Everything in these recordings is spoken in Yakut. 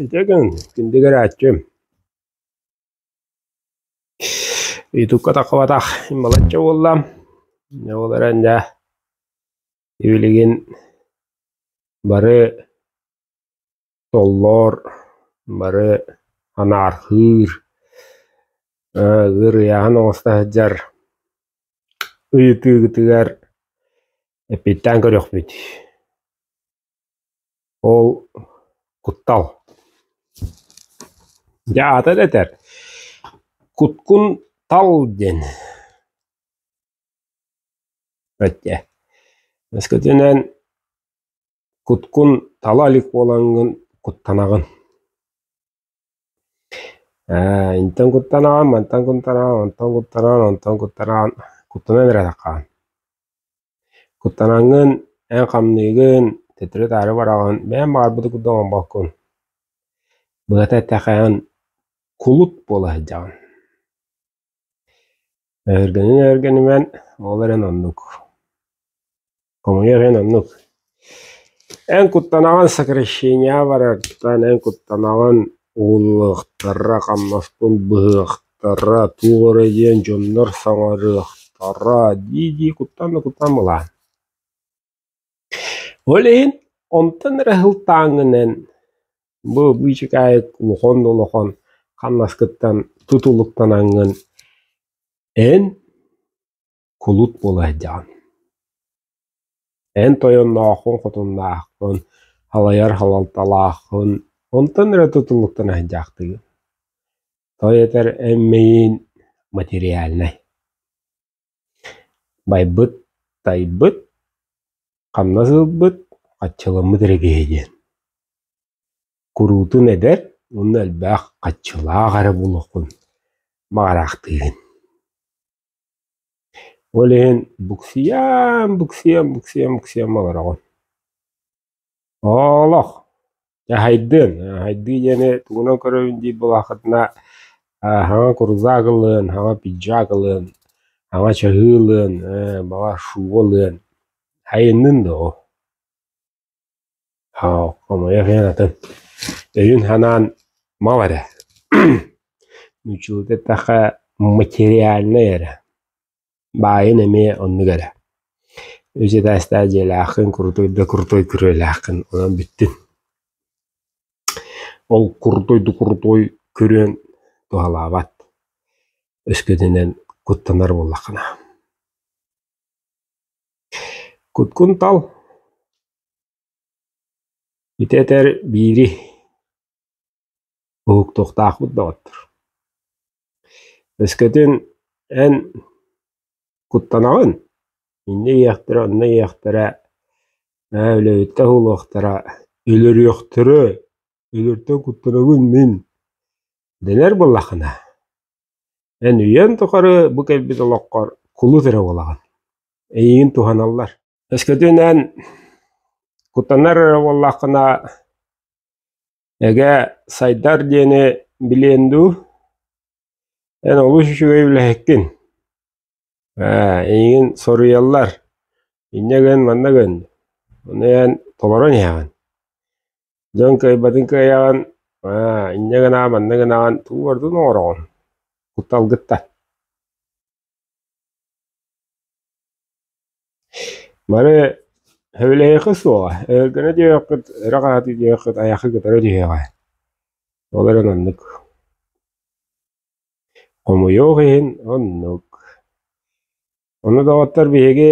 Ити гын күндү көрөөччүм Youtube-ка тахсыбатах балачча буолла ол эрэн дьэ билигин бары Толлоор бары анаархыыр, ыарыйааһын оҥосто сылдьар ыйытыыгытыгар эппиэттээн көрүөхпүт. Ол куттал. Дьэ аата да этэр, куткун тал диэн. Өттө. Өскөтүнэн Куткун тала илик буолаҥҥын куттанаҕын ээ интэн куттанаҕын, мантан куттанаҕын, онтон куттанаҕын, онтон куттанаҕын куттанан эрээтэххэ куттанаҥҥын, эн хамныыгын, төттөрү-таары бараҕын бэйэҥ баҕарбытын курдук оҥорбоккун быһата эттэххэ эн кулут буола сылдьаҕын Эһэргэнин-эһэргэнимэн ол эрэн оннук. Хомуйуох иһин оннук. Эн куттанаҕын сокращения барартан, эн куттанаҕын ууллуохтара, хамнаспын быһыахтара, туох эрэ диэн дьоннор саҥарыахтара, дии-дии куттанна-куттанна ылаан. Ол иһин онтон эрэ сылтааҥҥын эн бу быычыкаайык улахан да улахан хамнаскыттан тутулуктанаҥҥын эн кулут буола сылдьаҕын. Эн тойоннооххун, хотуннааххын, халайар халалталааххын, онтон эрэ тутулуктана сылдьаахтыгын. Той этэр эн миигин материальнай. Байбыт, тайбыт, хамнас ылбыт, хаччаламмыт эрэ киһи диэн. Куруутун эдэр уонна элбэх хаччалаах эрэ буолуоххун баҕараахтыыгын. Ол иһин буксуйан, буксуйан, буксуйан, буксуйан олороҕун. Олох дьаһайдын, дьаһайдыы диэни тугунан көрөбүн диир буоллаххытына, хаҥа курузак ылыан, хаҥа пиджак ылыан, хаҥа чаһыы ылыан, баҕар шуба ылыан. Айаннын да ол. Хомойуох иһин атын. Өйүн-санаан мал эрэ. Нууччалыы эттэххэ материальнай эрэ. Баайын эмиэ оннук эрэ. Үс этээстээх дьиэлээххин, курутой да курутой күрүөлээххин, онон бүттүн. Ол курутой да курутой күрүөн туһалаабат. Өскөтүнэн куттанар буоллаххына. Куткунтал ити этэр биири Уһуктуохтаахпыт доҕоттор. Өскөтүн эн куттанаҕын, инньэ ийэхтэрэ онно ийэхтэрэ ээ үлэһиттэр буолуохтара, өлөрүөхтэрэ, өлөртөн куттанабын мин дэнэр буоллаххына, эн үйэн тухары бу кэлбит олоххор кулут эрэ буолаҕын, эйиигин туһаналлар. Өскөтүн эн куттанар эрэ буоллаххына Эгэ, сайдар диэни билиэн дуу? Эн олус үчүгэй үлэһиккин. Ээ, эйигин соруйаллар. Инньэ гын, манна гын. Ону эн толорон иһэҕин. Дьон кыайбатын кыайаҕын. Аа, инньэ гынаҕын, манна гынаҕын. Тугу ордун оҥороҕун? Кутталгыттан. Бары сөбүлэһиэххэ суоҕа, өлгөнө диэххит, өрө хаһытыы диэххит айаххы кытары түһүөҕэ. Ол эрэн оннук. Хомуйуох иһин оннук. Ону доҕоттор биһиги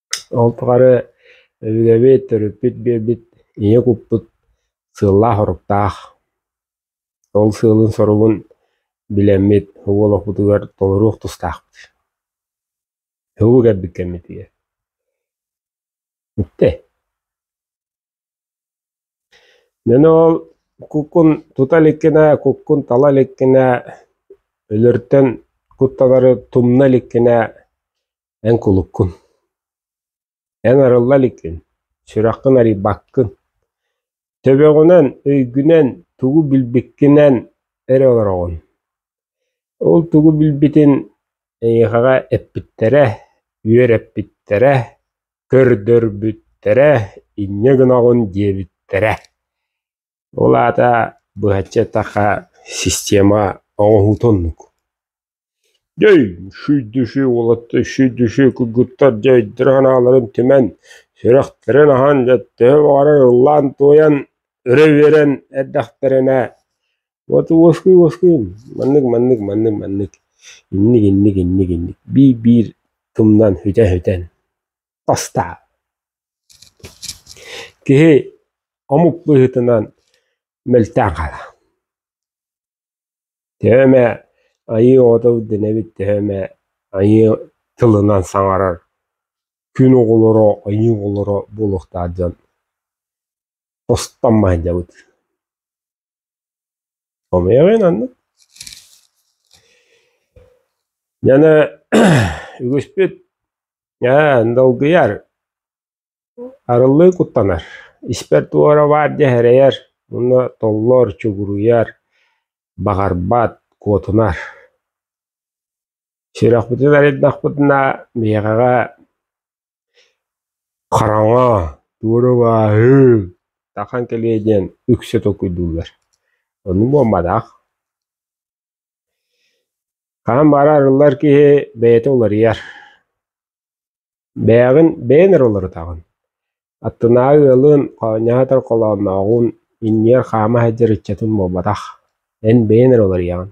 Ол тухары өбүгэбит, төрүппүт биэрбит ийэ куппут сыаллаах-соруктаах. Ол сыалын-соругун билэммит уолуспутугар толоруох тустаахпыт. Һугу кэлбит кэммитигэр. Бүттэ. Эн ол куккун тута иликкинэ, куккун тала иликкинэ, өлөртөн куттанары тумна иликкинэ, Эн кулуккун, эн арылла иликкин, сүрэххин арыйбаккын, төбөҕүнэн, өйгүнэн тугу билбиккинэн эрэ олороҕун. Ол тугу билбитин эйиэхэҕэ эппиттэрэ, үөрэппиттэрэ, көрдөрбүттэрэ, инньэ гынаҕын диэбиттэрэ. Ол аата быһаччы эттэххэ система оҥоһуутун оннук. Дьэй, сүүрдүсү уолаттар сүүрдүсү куйгуттар дьэйдэрэ санааларын түмэн, сүрэхтэрин аһан, төһө баҕарар ыллаан-туойан, өрө үөрэн эрдэхтэринэ: «Уоскуй-уоскуй, маннык, маннык, маннык, маннык, инник, инник, инник, инник» биир-биир тумнан сүтэ-сүтэн тастаа. Киһи омук быһыытынан мөлтөөн хаалар. Төһө эмэ айыы оҕото ирдэнэбит, төһө эмэ айыы тылынан саҥарар күн оҕолоро, айыы оҕолоро буолуохтаах дьон устан маһыйдабыт. Хомуйаҕын аннык. Дьэне үгүспүт ээ, долгуйар Арыллыы куттанар, испэр туора баар дьэ эрэйэр уонна толлор, чугуруйар, баҕарбат, куотунар. Сүрэхпитин арыйдахпытына биһиэхэ хараҥа, туора бааһыы, тахан кэлиэ диэн үксэ толкуйдууллар. Ону буолбатах. Хаһан баара арыллар киһи бэйэтэ уларыйар. Бэйэҕин бэйэн эрэ уларытаҕын. Аттынааҕы ыалын, хоонньоһо отор холооннооҕун, иннигэр хаама сылдьар ыччатын буолбатах. Эн бэйэн эрэ уларыйаҕын.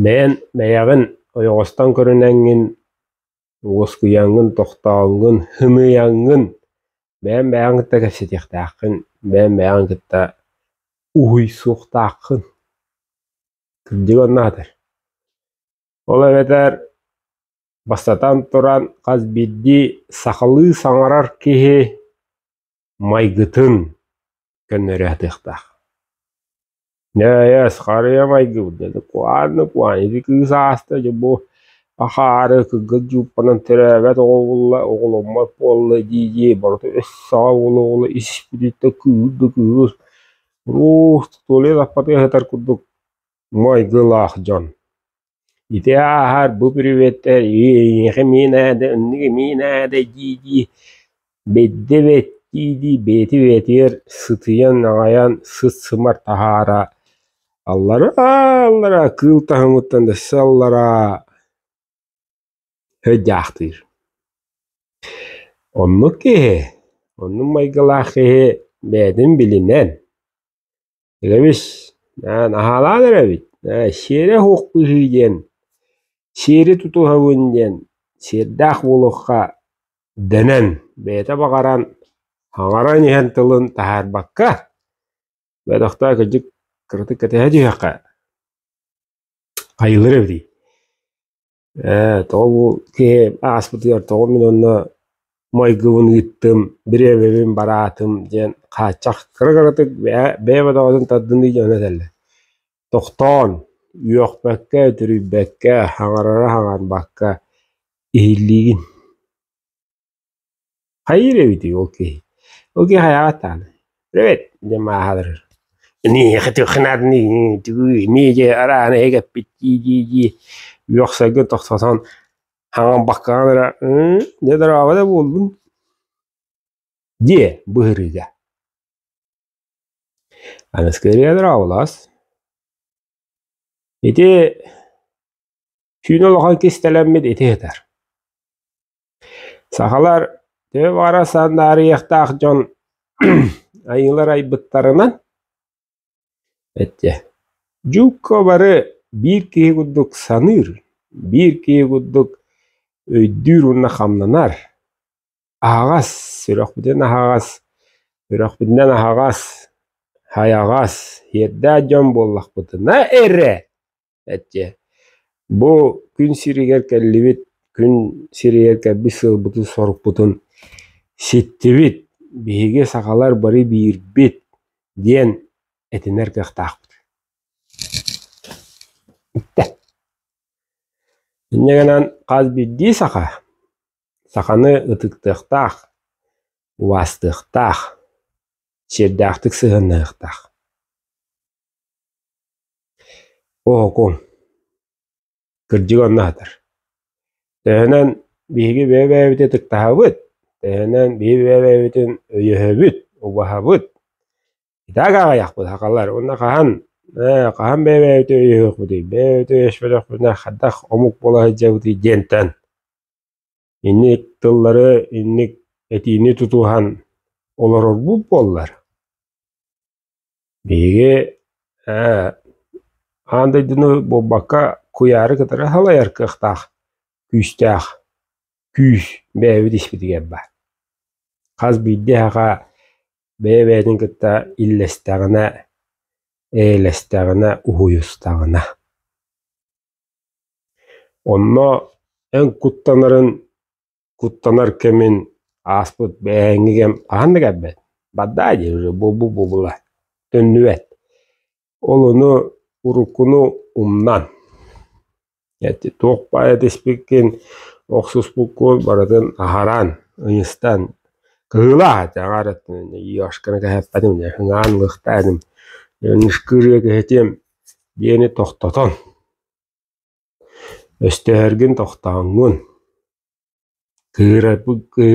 Бэйэн, бэйэҕин ойоҕостон көрүнэҥҥин, Уоскуйаҥҥын, тохтооҥҥун, хымыйаҥҥын, бэйэҥ бэйэҕин кытта кэпсэтиэхтээххин, бэйэҥ бэйэҕин кытта уһуй суохтааххын. Кырдьык оннаатар. Ол эбэтэр бастатан туран, хас биирдии сахалыы саҥарар киһи майгытын көннөрө сатыахтаах Нөөс, харыйа майгыбыт деді куһаанны куһаан ити кыыс ааста дьэ бу ахаары кыргыз жууппанан төрөөбөт оҕолуlla оҕоломмот буолла дии-дии барыта өс саҕа уола оҕоло испититтэ кыыр да кыыс уруус Толя саппатыга сытар курдук майгылаах дьон ити ааһар бу приветтэр эйиэхэ миин ээдэ оннук миин ээдэ дии-дии бэйдэ бэт дии-дии бэйти бэтигэр сытыйан аҕайан сыт-сымар таһаара аллараа аллараа кыыл таһымыттан дөссө аллараа һө дьаахтыыр оннук киһи оннук майгылаах киһи бэйэтин билинэн Эрэбис, аа наһаалаан эрэбит, ээ сиэрэ суох быһыы диэн, сиэри тутуһабын диэн сиэрдээх буолуохха дэнэн, бэйэтэ баҕаран, хаҥаран иһэн тылын таһаарбакка, бөтөхтөөх кырдьык кыратык кэтэһэ түһүөххэ, хайыылар эбитий Ээ, тоҕо бу киһи ааспытыгар тоҕо мин онно майгыбын ыыттым, бириэмэбин бараатым диэн хааччах кыра-кыратык бэйэ бэйэ бөтөҕөтүн тардыныы дьоно этэллэр. Тохтоон, үөхпэккэ, үтүрүйбэккэ, хаҥарара хаҥарбакка иһиллиигин. Хайыыр эбитий ол киһи? Ол киһи хайаҕатааны? Эбэт диэн мааһа олорор. Эниэхэ туохха наадыный, түгүй, миэдьэ арааны эгэппит дии-дии-дии үөхсэргэ тохтотон хаҥан баккаҕын эрэ «Ыы, дьэ дорообо да буоллун» диэ быһырыыга. Аныскы ырыа дорооболоос. Ити сүүн олохой кистэлэммит ити сытар. Сахалар төбө баҕарар сандаарыйыахтаах дьон айыылар айбыттарынан эттэ дьуукка бары биир киһи курдук саныыр, биир киһи курдук өйдүүр уонна хамнанар. Аһаҕас, сүрөхпүтүн аһаҕас, үрэхпитинэн аһаҕас, хайаҕас, иэрдээх дьон буоллахпытына эрэ эттиэ бу күн сиригэр кэллибит күн сиригэр кэлбит сылбытын сорукпутун ситтибит биһиги сахалар бары биирбит диэн этинэр кыахтаахпыт инньэ гынан хас биирдии саха саханы ытыктыахтаах убаастыахтаах сиэрдээхтик сыһыаннаһыахтаах Оһоку, кырдьык онно сатар. Төһөнөн биһиги бэйэ-бэйэбит ытыктаһабыт, төһөнөн биһиги бэйэ-бэйэбитин өйөһөбүт, убаһабыт, итак аҕыйахпыт сахалар. Уонна хаһан ээ хаһан бэйэ-бэйэбитин өйөһүөхпүтүй, бэйэ-бэйэбитин өйөспөтөхпүтүнэ хадах омук буола сылдьабытый диэнтэн инник тыллары, инник этиини тутуһан олорорбут буоллар, Биһиги ээ аан дойдуну буолбакка куйаары кытары халайар кыахтаах күүстээх күүс бэйэбит испитигэр баар. Хас биирдии эһэҕэ бэйэ-бэйэтин кытта иллэстэҕинэ, эйэлэстэҕинэ, уһуйустаҕына. Онно эн куттанарын куттанар кэмин ааспыт бээһиҥҥи кэм хаһан да кэлбэт бардаа дии уже бу-бу-бу-була төннүбэт ол ону уруккуну умнан туох баайа тиспиккин охсуспуккун барытын аһаран ыйыстан кыһыылаах дьаҕарыттын юшканы кэһэппэтим ыҥаан лыхтаатым нышкырыа кэһэтим биэни тохтотон Өстөһөргүн тохтооҥҥун, кыырабыкы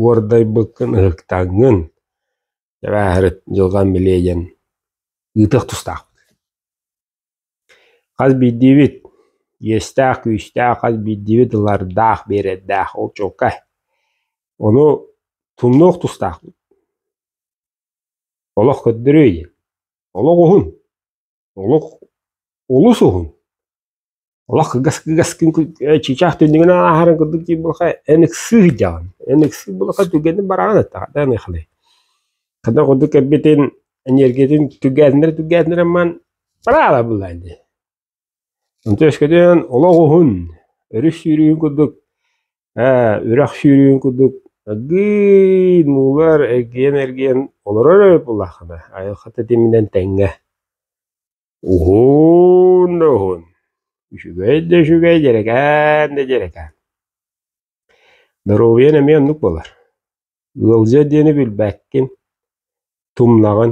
уордайбыккын ыһыктаҥҥын, дьэбээһирит дьылҕам били эйэн ыытыах тустаахпыт. Хас биирдиибит иэстээх-күүстээх, хас биирдиибит ылардаах, биэрэрдээх, ол чуолкай. Ону тумнуох тустаахпыт. Олох көрдөрүөй, олох уһун. олох олус уһун. Олох кыгас кыгас күн чыычаах түннүгүн ааһарын курдук диир булха эн ыксыы сылдьаҕын. Эн ыксыы булха түргэнник бараҕын аттаҕа ыныхалай. Хата курдук кэлбитин энергиятын түргээтиннэр түргээтиннэр амман бараала буллаан дии. Онтон өскөтүн олох уһун, өрүс сүүрүүн курдук Ээ, үрэх сүүрүүн курдук аргыый муулар эргийэн-эргийэн олорор эбит буоллаххына, айылҕа тэтиминэн тэҥҥэ. Уһун да уһун, үчүгэй да үчүгэй, дьэрэкээн да дьэрэкээн. Доруобуйан эмиэ оннук буолар. Ыалдьа диэни билбэккин, тумнаҕын.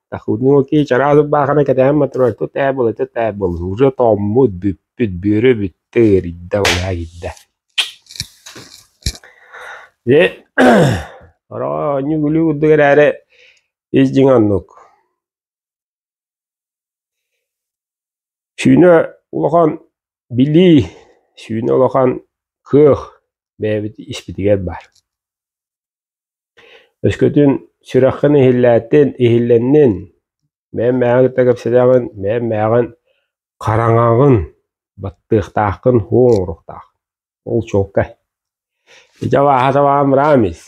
Тахунуоки чараалык баахана кэтэһэн мотор тут ээ була тут ээ бол уже тооммут бүппүт бүөрө бүттэ ыарыйда болаа киирдэ Дьэ, ороонньу гүлүү курдук эрээри ис дьиҥ оннук. Сүүнэ улахан билии, сүүнэ улахан кыах бэйэбит испитигэр баар. Өскөтүн сүрэххин иһиллээтин, иһиллэннин, бэйэм мээҕин кытта кэпсэтэҕин, бэйэм мээҕин хараҥаҕын, баттыахтааххын, уҥ оҥоруохтааххын. Ол чуолкай. Ити абааһы табаҕын быраҕан ис.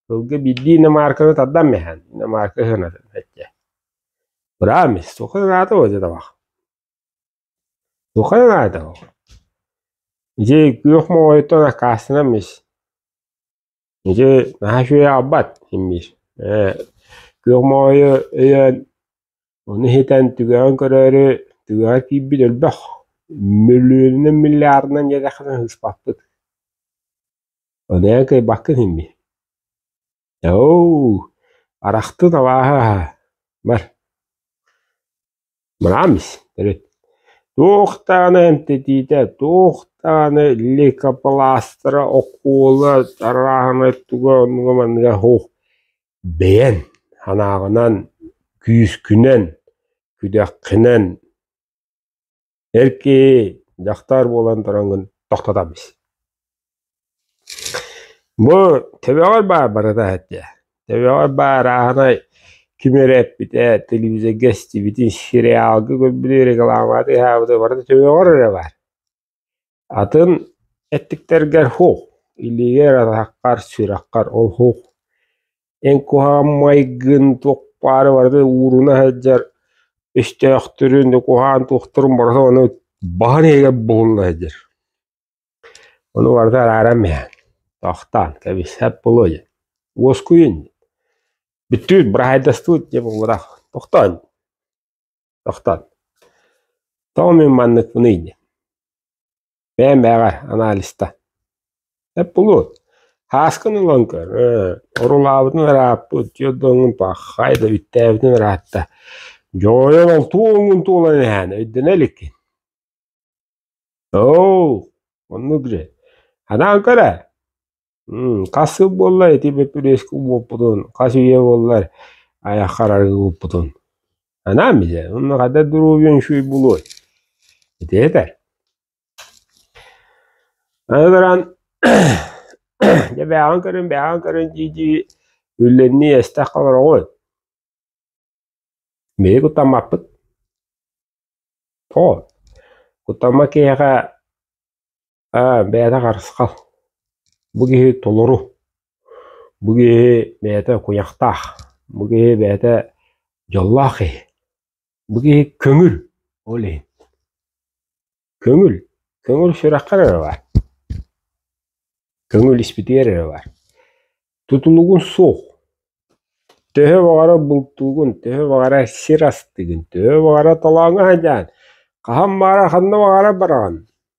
Сылгы биирдии иномарканы тардан биһэн, иномарка ыһынатын соччо. Быраҕан ис. Туохха наада бу ити табах? Туохха наада бу? Ити күөх моҕойуттан аккаастанан ис. Ити наһаа үчүгэй аҕалбат симмиир. Ээ, күөх моойу өйөөн, ону иһитэн түгэҕин көрөөрү түгэҕэ киирбит өлбөх. Мөлүөнүнэн, миллиардынан диэтэххинэ сыыспаппыт. Ону эн кыайбаккын симмиир. Оо, арахтын абааһы аһа, бар. Брамс, төрүт. Туох даҕаны эмтэтиитэ, туох даҕаны лейкопластара, окуола арааһынай туга оннуга манныга оһ бэйэн санааҕынан, күүскүнэн, күдэххинэн Эркий, дьахтар буолан тураҥҥын тохтотом ис Бу төбөҕөр баар барыта соччо. Төбөҕөр баар ааһынай ким эрэ эппитэ, телевизорга истибитин, сериалга көрбүтү, рекламаҕа тыаһаабыта, барыта төбөҕөр эрэ баар. Атын эттиктэргэр «һух», илиигэр атаххар, сүрэххэр ол «һух», эн куһаҕан майгын туохпаары барыта ууруна сылдьар өстөөхтөрүн, куһаҕан туохтарын барыта ону баһан иһигэр булунна сылдьар. Ону барыта арааран иһэн, тохтоон кэбиспэт буолуо диэн. Уоскуйун диэн. Бүттүбүт, быраһаайдастыбыт диэн буолбатах. Тохтоон. Тохтон. Тоҕо мин манныкпыный диэн. Бэйэм бэйэҕэ анализта. Эп булуот. Хааскын ылан көр. Орулаабытын ырааппыт. Түөрдөҥҥүн паххай да бүттээбитин ыраатта. Дьойонон туоҥҥун туолан эһээн өйдөнө иликкин. Оо, оннук же. Ханаан көрө. Хас сыл буолла ити бөппүрүөскэ уоппутун, хас үйэ буоллар айахха арарыгы ууппутун? Анаан билэ, онно хата доруобуйаҥ үчүгэй буолуой? Ити этэр. Аны туран дьэ бээҕин көрөн бээҕин көрөн дии-дии үллэннии эстэх олороҕун. Биһиги куттаммаппыт. Оо, куттамма киһиэхэ Аа, мээнэ харысхал, бу киһи толору, бу киһи бэйэтэ куйахтаах, бу киһи бэйэтэ дьоллоох киһи, бу киһи көҥүл, ол иһин. Көҥүл, көҥүл сүрэххэр эрэ баар, көҥүл испитигэр эрэ баар. Тутулугун суох, төһө баҕара бултуугун, төһө баҕара сир астыгын, төһө баҕара талааҥҥа садьаан, хаһан баара ханна баҕара бараҕын,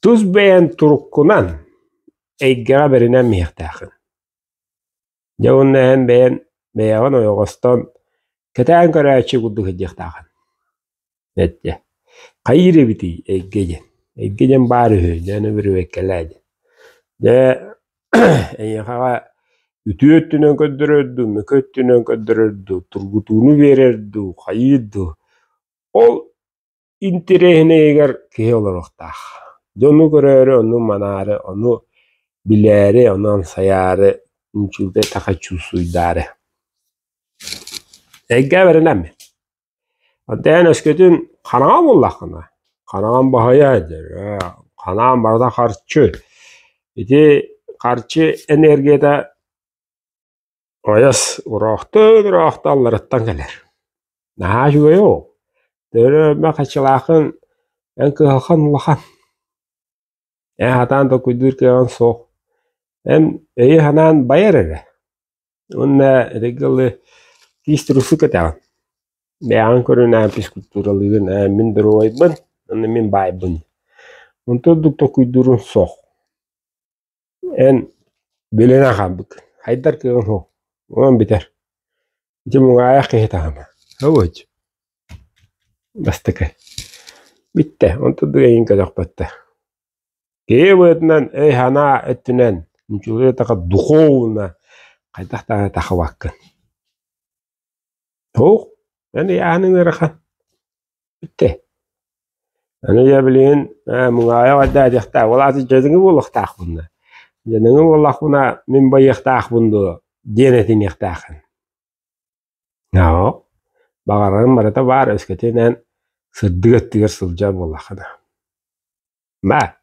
Тус бэйэҥ туруккунан эйгэҕэ бэринэн миһэхтээххин. Дьэ уонна эн бэйэн бэйэҕин ойоҕостоон кэтээн көрөөччү курдук сылдьыахтааҕын. Эттэ хайыыр эбитий эйгэ диэн эйгэ диэн баар үһү дьэ аны бүрүбэккэлээ диэн. Дьэ эйиэхэҕэ үтүө өттүнэн көрдөрөр дуу мөкү өттүнэн көрдөрөр дуу тургутууну биэрэр дуу хайыыр дуу ол интириэһинэйигэр киһи олоруохтаах. Дьону көрөөрү, ону манаары, ону билээри, ону амсайаары, үчүгэй таха чуусуйдаары. Эйгэ бэринэм. Отаан өскөтүн ханаҕа буллаххына, ханаҕан баһайа дөрө, ханаҕан барыта харчы. Ити харчы энергията Ойос, уроохтуун уроохту алларыттан кэлэр. Наһаа үчүгэй оо, төлөмө хаччалаахын эн кыһалхан улахан. Эн сатаан толкуйдуур кыаҕыҥ суох. Эн өйү санаан байар эрэ. Уонна итинки ылы киис турусу кэтэҕин. Бэйэҕин көрүнээн физкультуралыырын эн мин доруобайбын, уонна мин баайбын. Онтон ордук толкуйдууруҥ суох. Эн билинэ хаалбыккын, хайдар кыаҕыҥ суох, онон бүтэр. Ити муҥаайах киһи таһыма, һылыч. Бастакы. Бүттэ, онтон дуэйин көтөхпөттө. Киһи быһыытынан өй-санаа өттүнэн, ньучулуйа таха духуобуна хайдах даҕаны тахыбаккын. Ух, эн ыйааһыныҥ ыарахан. Бүттэ. Аны я билигин э, муҥаайах айдаатыахтаах, ол аата дьаныҥы буолуохтаахпын да. Дьаныҥы буоллахпына мин байыахтаахпын дуо диэн этиниэхтээххин. Оо, баҕарарым барыта баар, өскөтүн эн сырдык өттүгэр сылдьар буоллахха да. Баа,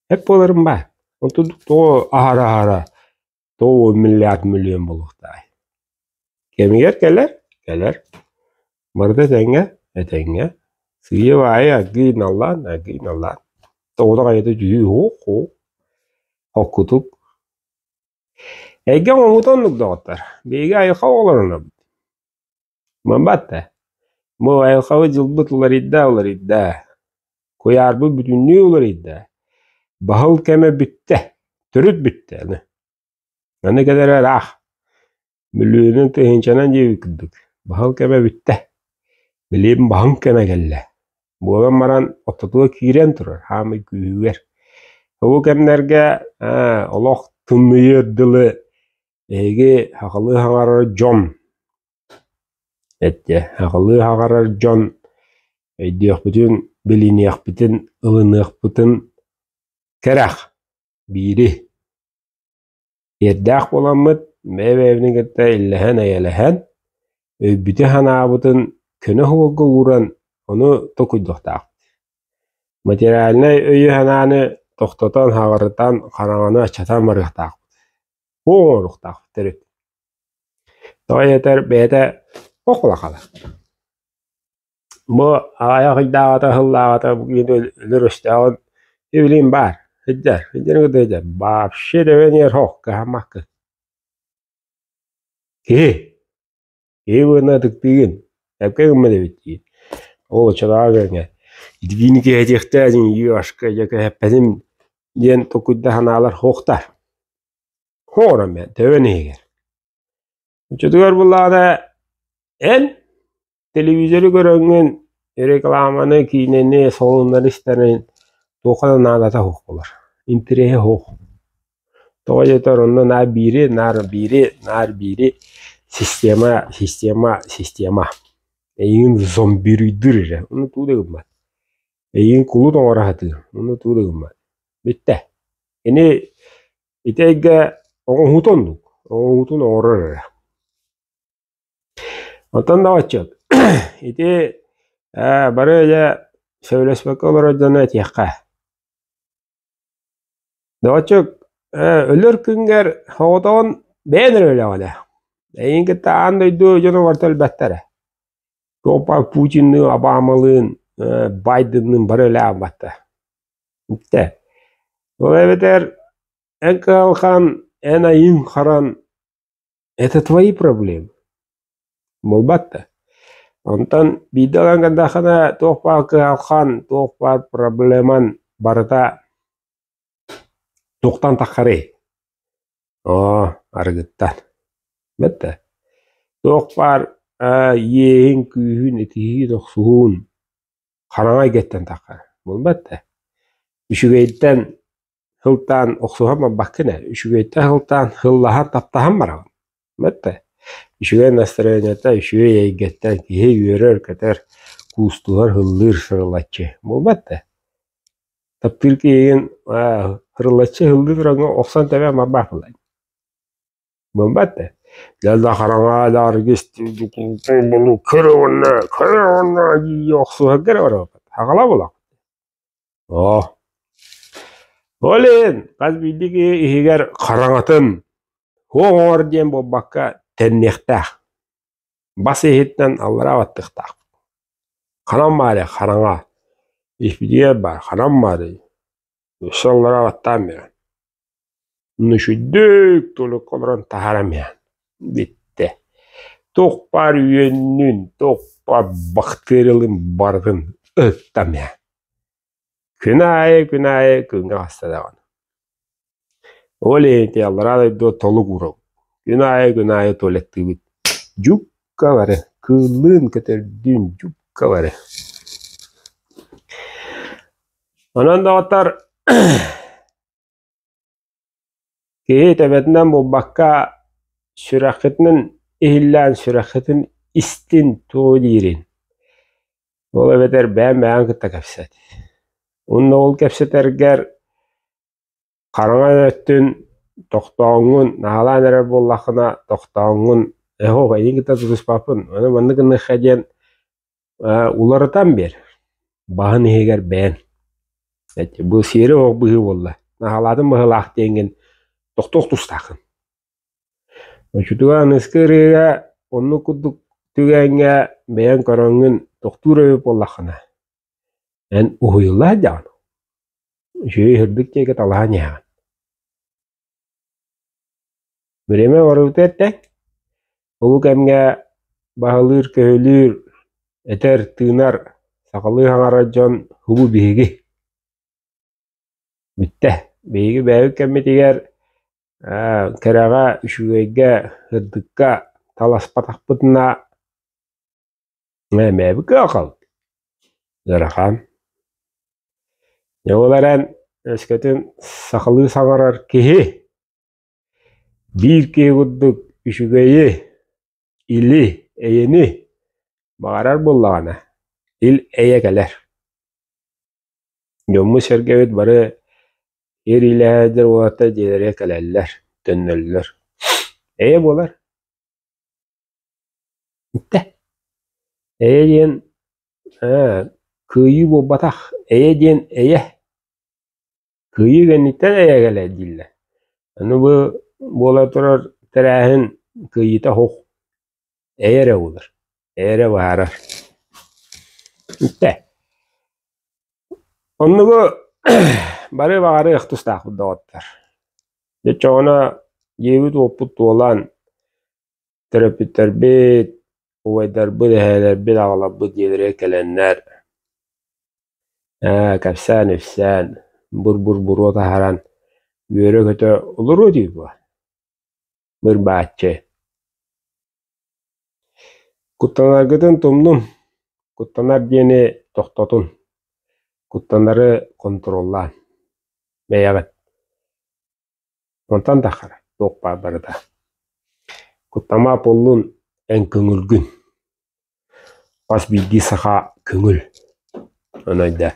эп буоларым баа. Онтун тоҕо аһара-аһара Тоҕуо миллиард миллион буолуохтаах. Кэмигэр кэлэр, кэлэр. Барыта этэҥҥэ, этэҥҥэ. Сыыйа аайы аггыйын аллаан, аггыйын аллаан. Тоҕута хайата дьүһүй, ух ух. Оккутук. Эйгэ оҥоһута оннук доҕоттор. Биһиги айылҕа оҕолоруна Мамбата, бу айылҕабыт дьылбыт уларыйда уларыйда, куйаарбыт бүтүннүү уларыйда, баһыл кэмэ бүттэ, төрүт бүттэ аны. Аны кэлэр ыраах. Бүлүүнүн тыһыынчанан диэбит курдук, баһыл кэмэ бүттэ. Билим баһыҥ кэмэ кэллэ. Буолан баран ортотуга киирэн турар хаамый күүһүгэр. Бу кэмнэргэ олох тымныйыыр дылы Эһиги хахалыы хаҕарар дьон эттэ. Хахалыы хаҕарар дьон өйдүөхпүтүн, билиниэхпитин, ылыныахпытын кэрэх биири. Иэрдээх буоламмыт бэйэ-бэйэбитин кытта иллэһэн-эйэлэһэн өйбүтүн-санаабытын көнө уолга ууран ону токуйдухтаах. Материальнай өйү-санааны тохтотон, хаҕырытан, хараҥаны аччатан барыахтаахпыт. уу оҥоруохтаах төрүт тоҕо диэтэр бэйэтэ ох улахана бу аҕай аҕыйдааҕата ыһыллааҕата бу киһини өлөр өстөөҕүн сибилиин баар сылдьар сылдьарын кытта сылдьар вообще төбөнүөр охка-махка киһи Киһи быһына ытыктыыгын, эпкэ гыммат эбит дии. Ол оччотооҕу кэмҥэ ититиини кэһэтиэхтээдиҥ, ё-ашка, дьэ кэһэппэтим диэн токуйда санаалар суохтар. Оҥорон бээн, төбөн иһигэр. Оччотугар буллаҕына эн телевизору көрөҥҥүн, рекламаны, киинэни, салоннары истэрин туохха да наадата суох буолар, интэриэһэ суох. Тоҕо диэтэр онно наар биири, наар биири, наар биири система, система, система эйигин зомбируйдуур эрэ ону туу да гыммат. Эйигин кулут оҥоро сатыыр ону туу да гыммат. Бүттэ. Ини ити эйгэ оҥоһуута оннук оҥоһуутун оҥорор эрэ. Оттон да отчуот ити ээ бары дьэ сөбүлэспэккэ олорор дьону этиэххэ. Доҕоччук, өлөр күҥҥэр соҕотоҕун бэйэн эрэ өлөҕүнэ, эйиин кытта аан дойду дьонугар төлбөттөрө. Путинныын, Обамалыын, Байденныын бары өлөөн барта. Бүттэ. Ол эбэтэр эн кыһалҕан, эн айыыҥ харан Это твои проблемы. Буолбатта. Онтон биирдэ ылан көрдөххүнэ туох баар кыһалҕан, туох баар проблеман барыта туохтан таххарый? Оо, арыгыттан. Бэртэ. Туох баар э иэһин, күүһүн, итиһиин, охсуһуун хараҥа эйгэттэн таххара. Буолбатта. Үчүгэйтэн сылтаан охсуһан барбаккын ээ үчүгэйтэн сылтаан сыллаһан таптаһан бараҕын бэртэ үчүгэй настроенияттан үчүгэй эйгэттэн киһи үөрэр көтөр куустуһар һыллыыр сырылаччы буолбат да таптыыр киһигин сырылаччы һыллыы тураҥҥа охсон тэбээн барбаат буолай буолбат да дьэнэ хараҥа нааргыс көр уонна көр уонна көр уонна охсуһаргар барабыт аҕала буолаҕын Оо, Олин, хас биирдии иһигэр хараҥатын «Уҥ оҥор» диэн буолбакка, тэнниэхтээх, бас иһиттэн аллараа баттыктаахпыт. Ханан баарай хараҥа, испидиэр баар, ханан баарый, өссө аллараа баттаан биэрэн Мүчүддүк тулукка олорон таһаарам иһэн бүттэ. Туох баар үөннүүн, туох баар бактыаралыын барытын ырыттам иһэн. Күн аайы, күн аайы күҥҥэ хаста даҕаны. Ол иһинити аллараа дойду толук уруок. Күн аайы, күн аайы туалеттыыбыт. Дьукка бары, кыыллыын көтөрдүүн дьукка бары. Онон доҕоттор Киһи төбөтүнэн булбакка сүрэххитинэн иһиллээн сүрэххитин истин тугу диирин ол эбэтэр бэйэм бэйэҕин кытта кэпсэт уонна ол кэпсэтэргэр хараҥаҥ өттүн тохтооҥҥун наһаалаан эрэр буоллаххына тохтооҥҥун эһох эйигин кытта сулуспаппын аны маннык гыныахха диэн Э, уларытан биэр, баһын иһигэр бэйэн. Эти, бу сиэри оһох быһыы буолла. Наһалаатын быһылаах диэҥин тохтуох тустаахын. Очутуган ыскы ырыыга онну курдук түгээҥҥэ бэйэн көрөҥҥүн тохтуур өйү буоллаххына, эн уһуйулла сылдьаҕын. Үчүгэй үрдүк диэки талаһан иһэҕин. Время барыбыта эртэ. Ол кэмҥэ баһылыыр, көһүлүүр, этэр, тыынар сахалыы хаҥарар дьон «Хубу биһиги!» Бүттэ. Биһиги бэйэбит кэммитигэр кэрэҕэ, үчүгэйгэ, ырдыкка таласпатахпытына Мэмээби кыахал ыарахан. Дьэ ол эрэн өскөтүн сахалыы саҥарар киһи биир киһи курдук үчүгэйи, или, эйэни баҕарар буоллаҕына ил эйэ кэлэр. Дьоммут-сэргэбит бары ириилэһэллэр уолаттар дьиэлэригэр кэлэллэр, төннөллөр. Эйэ буолар. Итэ, эйэ диэн ээ кыайыы буолбатах, эйэ диэн эйэ, кыайыы кэнниттэн эйэ кэлээр дииллэр. Аны бу буола турар тэрээһин кыайыыта оһох, эйэ эрэ буолар, эйэ эрэ баарар. Итэ, оннугу бары баҕарыах тустаахпыт доҕоттор. Дьэ чоҕуна дьиэбит-уоппут туолан, Төрөппүттэрбит, убайдарбыт, эһээлэрбит, аҕаларбыт дьиэлэрэ кэлэннэр ээ кэпсээн-ипсээн, бур-бур буруо таһаран үөрэ-көтө олоруо дии дуо? Быр-бааччы. Куттанаргытын тумнум, куттанар диэни тохтотун, куттанары контроллаан. Бэйэҕит Онтон таххара туох баар барыта. Куттамаап буоллун, эн көҥүлгүн. Хас биирдии саха көҥүл. Аны өйдөөн.